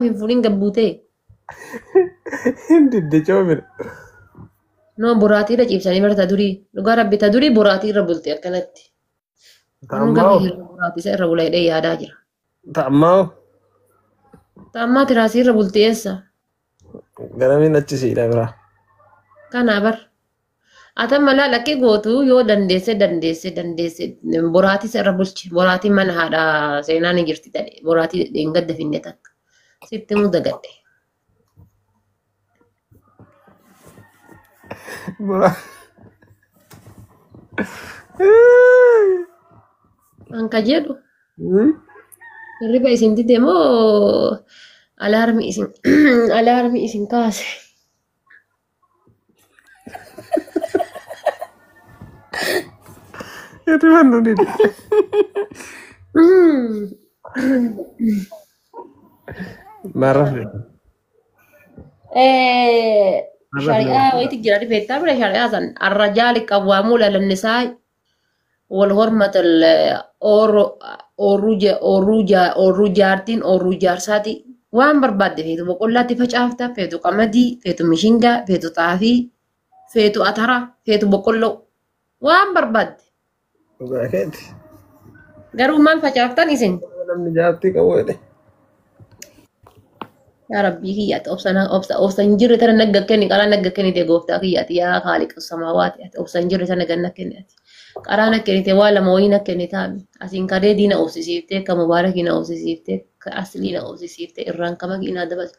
hin fuudhin gabbuutee. Hin didde coomina. Noo boraatii irra ciibsanii bara ta durii. Dhugaa rabbi ta durii boraatii irra bulti akkanatti. Namni Ta'ammaa gamii irra boraatii isa irra bula jedhee yaadaa jira. ta'ammaa Ta'ammaa tiraasii irra bulti eessa? garamiin achi siidha biraa. Kanaa bar. Atan malaa lakkii gootu yoo dandeesse dandeesse dandeesse boraatii sirra bulche boraatii mana haadha seenaa ni jirti tadhe boraatii hin gadda finne takka sitti muu dagadhe. Bora. An ka jedhu hirriba isin dide moo alaarmi isin alaarmi isin kaase. Eti mannu didi. Narra fide. Eh, Narra fide. shari'aa wayiitu jira beektaa bira shari'aa san arrajaa liqawwaamuu lalannisaa wal hormatan oorruu jaartiin oorruu jaarsaati waan barbaadde feetu boqollaatti facaafta feetu qamadii feetu mishingaa feetu xaafii feetu ataraa feetu boqqolloo waan barbaadde Dhugaa keeti. garuu maal facaaftan isin Namni jaartii qabu jedhe. Yaa Rabbii kiyya ati obsa na- obsa obsa hin jirre tana nagga kenni qaraa nagga kennite gooftaa kiyya ati yaa haali qassamaa waati ati obsa hin jirre tana ganna kenni ati qaraa na kennite waa lama wayii na kenni taami asiin kadee diina obsisiiftee ka mubaarakii na obsisiiftee ka aslii na obsisiiftee irraan kama kiinaa dabalte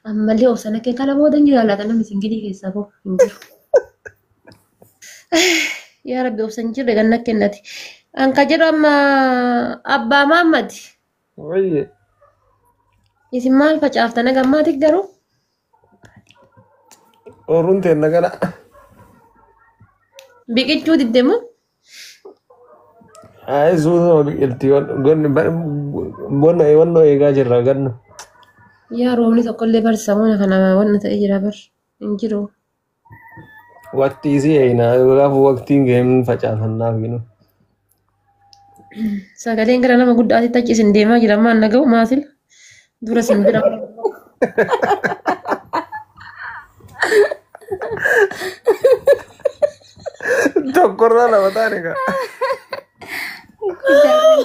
ammallee obsa na kenni kana booda hin jiraa laata namni singilii keessaa boo hin jiru. Yaa Rabbi obsa hin jirre ganna kennati. An ka jedhu amma abbaa maammati. Wayyee. Isin maal facaaftan haga ammaati garuu? Ooruun teenna kana. Biqichuu didde moo? Ayi suutuma biqilti. Gonni bonna wannoo eegaa jirra ganna. Yaa roobni tokkollee barsiisa mana kana wanna ta'ee jira bar hin jiru. Waqtii isii eeynaa kanaaf waqtiin ga'een facaafannaaf ginu. Sagaleen gara nama guddaatti tachi isin deemaa jira ammaan naga'u maasil dura isin bira. Tokkorraa lama taane kaa. Guddaa.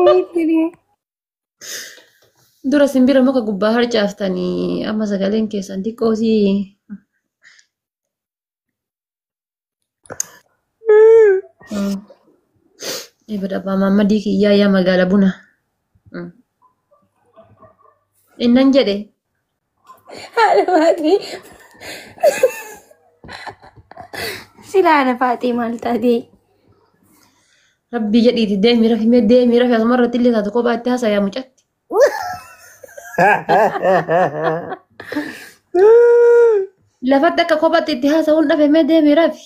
Wayii Dura simbira muka gubbaa harcaaftanii amma sagaleen keessan xiqqoo si ibada abbaa maammadii kiyyaa yaa magaala buna. Innan jedhe Haadha Silaa na faatee maal taatee? Rabbii jedhiiti deemii rafi mee deemii rafi asuma irratti illee taatu kophaatti haasayaa mucatti. Lafatti akka kophaatti itti haasa'uun dhafe mee deemii rafi.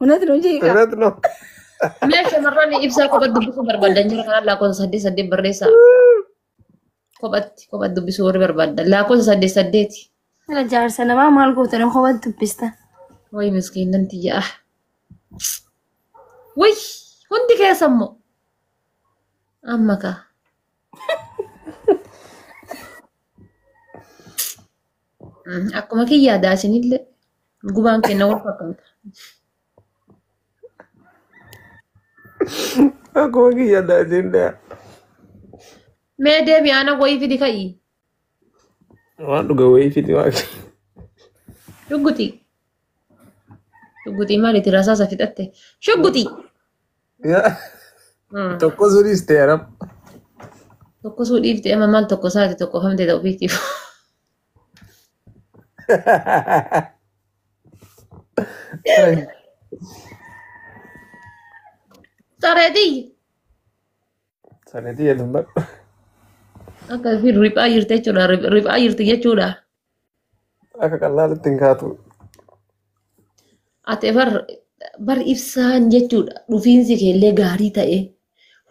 Unat nu jiika. Irratti no. Mee shamarran ibsaa kophatti dubbisuu barbaadan jira kanaan lakkoofsa saddeet saddeet barreessaa. Kophatti kophatti dubbisuu warri barbaadan lakkoofsa saddeet saddeeti. Kana jaarsa namaa maal gootan kophaa dubbista. Wayi miskiinnan tiyya ah. Wayi hundi keessa immoo. Amma kaa. Akkuma kiyyaa daasinillee gubaan kenna wal fakkaata. Akkuma kiyya daasin dhaa. Mee deebi aana wayii fidi ka'i. Waan dhuga wayii fiti waan. Shugguxii. Shugguxii maaliiti rasaasa fixatte? Shugguxii. Mm. Tokko sunis ta'e aram. Tokko suu dhiifte amma maal tokko isaati tokko famte ta'u beektiif. Sareetii Sareetii jedhu hin badhu. akka fi riphaa jirti jechuudha. Rip- Riphaa jirti jechuudha. Akka qallaalitti hin kaatu. Ati bar bar ibsaan jechuudha dhufiinsi kee illee gaarii ta'e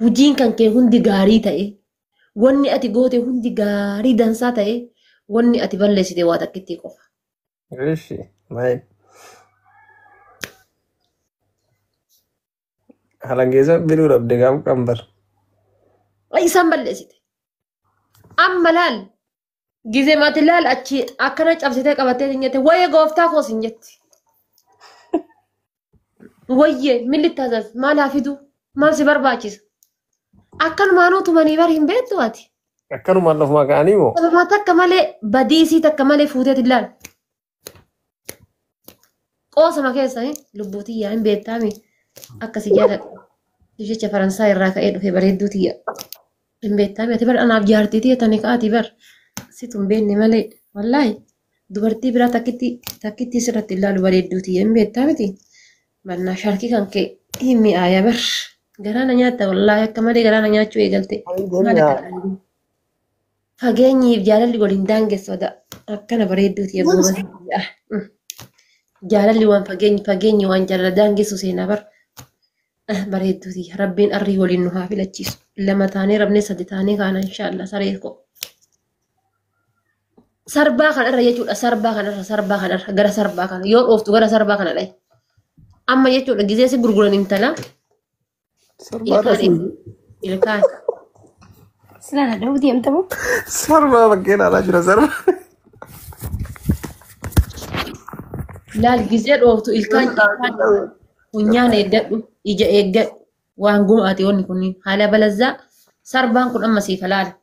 hojiin kan kee hundi gaarii ta'e wanni ati goote hundi gaarii dansaa ta'e wanni ati balleessite waa takkittii qofa. Rishi maal halangeessa biluu dhabde gaaf qambar. Isaan balleessite. Amma laal Gizee mati laal achi akkana cabsitee qabattee hin jette wayye gooftaa koos hin jetti. Wayye milli taasas maal haa fidu maal si barbaachisa. Akkanumaanuu tumanii bar hin beektu ati. Akkanumaan lafumaa ka'anii moo? Sababaa takka malee badii isii takka malee fuuteet hin laal. Qoosama keessanii lubbuu tiyyaa hin beektaami akkasi jaaladha. Jecha Faransaa irraa ka'ee dhufe bareedduu tiyya. Hin beektaami ati bar anaaf jaartii tiyya tani ka'aati bar. Situ hin beekne malee wallaahi dubartii biraa takkitti takkitti sirratti ilaalu bareedduu tiyya hin beektaa miti. Mannaa shaarkii kan ka'e hin mi'aaya bar. Garaa na nyaatta wallaahi akka malee garaa na nyaachuu eegalte. Maal akka Fageenyiif jaalalli waliin daangessa oda akkana bareedduu tiya Kunis- goobana. Jaalalli waan fageenyi fageenyi waan jaalala daangessu seenaa bar. Ah, Bareedduu tiya rabbiin arrii waliin nu haa filachiisu. Lama taanee rabnee sadi taanee kaana inshaallah saree koo. Sarbaa kanarra jechuudha sarbaa kanarra sarbaa kanarra gara sarbaa kana yoo dhooftu gara sarbaa kana dhahi. Amma jechuudha gizee si gurguran intala Sarbaa Ilkaan dhasuu. eessa? Ilkaan. Silaa na dhahuu deemta moo? Sarbaa bakkee ilaalaa jira sarbaa. Laal gizee dhooftu ilkaan ilkaan funyaan eeggadhu ija eeggadhu waan gumaate wanni kunniin haala balazzaa sarbaan kun amma siif halaala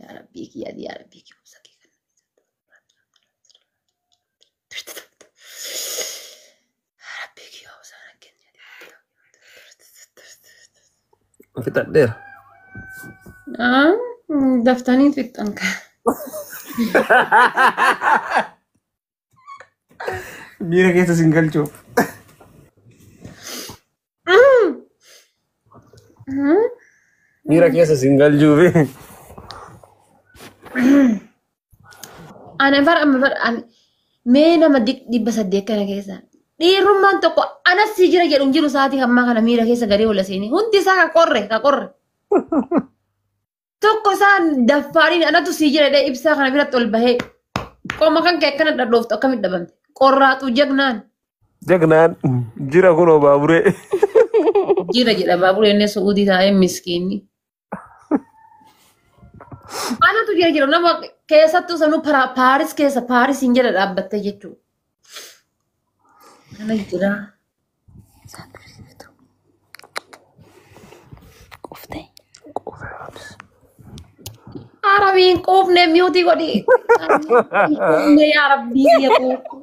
Yaa Rabbii kiyyaa yaa Rabbii kiyyaa obsa kee kan Rabbii kiyyaa obsa na kenni. Fixadheera. Ah, Daftanii fixxan kan. Miira keessa sin galchuuf. Miira keessa sin galchuuf. Ana bara amma bara ani mee nama di- dhibba saddeet kana keessa dhiirummaan tokko anas si jira jedhu hin jiru sa'aatii ammaa kana miira keessa galee ola seenee hundi isaa ka qorre ka qorre. Tokko isaan daffaariin anatu sii jira jedhee ibsaa kana biratti ol bahee qoma kan kee akkana dhadhooftu akkamitti dhabamte qorraatu jagnaan Jagnaan jira kunoo baaburee. jira jedha baaburee inni su'uudii taa'ee miskiinni. Anatu jira jira nama keessattuu sanuu para- paaris keessa paarisiin jala dhaabbattee jechuudha. Kana jira. Quuftee. Arabiin quufne miyuutii godhi. Quufne yaa rabbii biyya koo.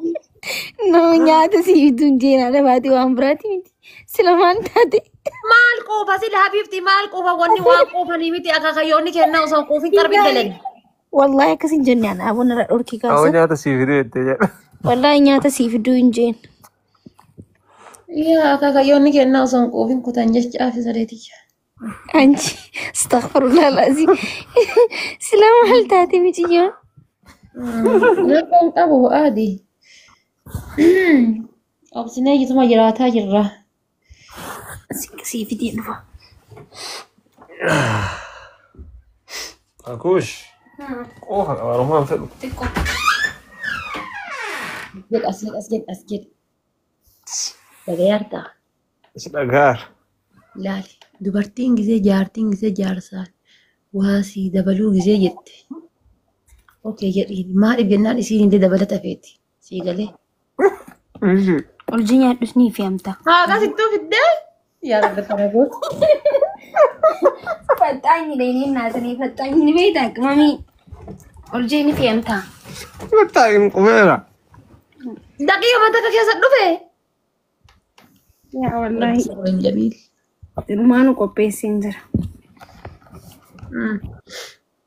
Nama nyaata sii bituun jeenaa dhabaati waan biraati miti. Sila maal taate? Maal quufa sila habiibti maal quufa wanni waan quufanii miti akaakayyoonni kennaa osoo hin quufin qarbi hin dalani. Wallahi akkas hin jenne ana aboo narra dhorkii Awa kaasa. nyaata sii fiduu jettee jedha. Wallahi nyaata sii fiduu hin jeen. Yaa akaakayyoonni kennaa osoo hin quufin kutan jechaa fi sadeetiyya. Anchi astaghfirullah lazi. Sila maal taate miciyyoon? Rakkoo hin qabu aadi. Obsinee iyyituma jiraataa jirra. Sii fidee dhufa. Akuush qoofa qaba Oromoon fedhu. Xiqqoo. Jedha as jedha as jedha as jedha. Dhagayaartaa. Si dhagaar. Laali. Dubartiin gisee jaartiin gisee jaarsaan waa sii dabaluu gisee jette. Okee jedhiin. Maaliif jennaan isiin illee dabalata feeti. Sii galee. Ishi. Urjii nyaadhus ni fi amta. Haadha sittuu fiddee. Yaa rabbi kana gootu. Faxaanyi dheedhee naasanii faxaanyi ni beektaa qimamii. Urjii ni fi amta. Mataa hin qubeera. Daqiiqa mata akka keessa dhufe. Yaa wallaahi. Sabrin Jamiil. Ilmaanu qopheesseen jira.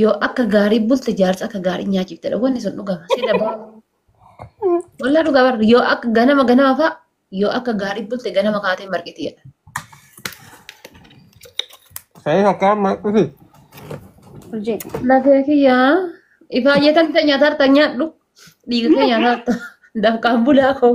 Yoo akka gaarii bulte jaarsa akka gaarii nyaachiftedha. Wanni sun dhugama. Si dabaa. Walaa dhugaa barra. Yoo akka ganama ganama fa'a yoo akka gaarii bulte ganama kaatee marqiti jedha. Sa'ee takkaa amma dhufe. Urjii. Lafee kiyyaa ifaa jetan ta'e nyaataa harta nyaadhu. Dhiiga kee nyaataa harta. Dafqaan bulaa koo.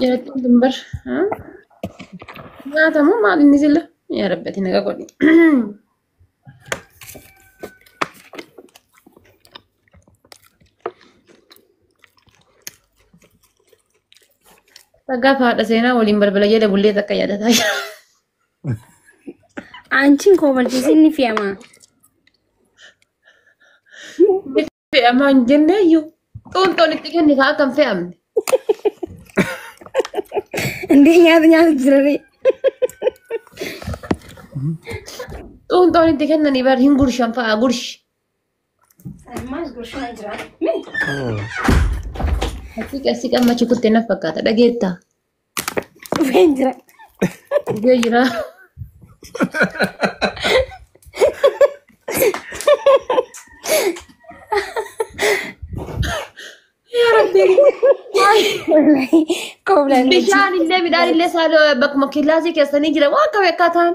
Jarattiin dumbar. Nyaatamu maal inni silla? Yaa rabbati naga godhi. Dhagaa faadha seenaa waliin balbala jala bullee takka yaadataa jira. Aanchiin koo balchiisinni fi'amaa. fe'amaa hin jenne iyyuu xuunxoon itti kenni kaa akka hin fe'amne. Indii nyaata nyaata jiranii. Xuunxoon itti kennanii bar hin gurshan fa'a gurshi. Ammaas gurshaa jira. Haqiiqa si qammachi kutte na fakkaata dhageettaa. Dhufeen jira. Dhufee jira. Yaa Rabbi. Kooblaan Bishaan illee midhaan illee saaloo bakkuma killaasii keessanii jira waan akka beekaa ta'an.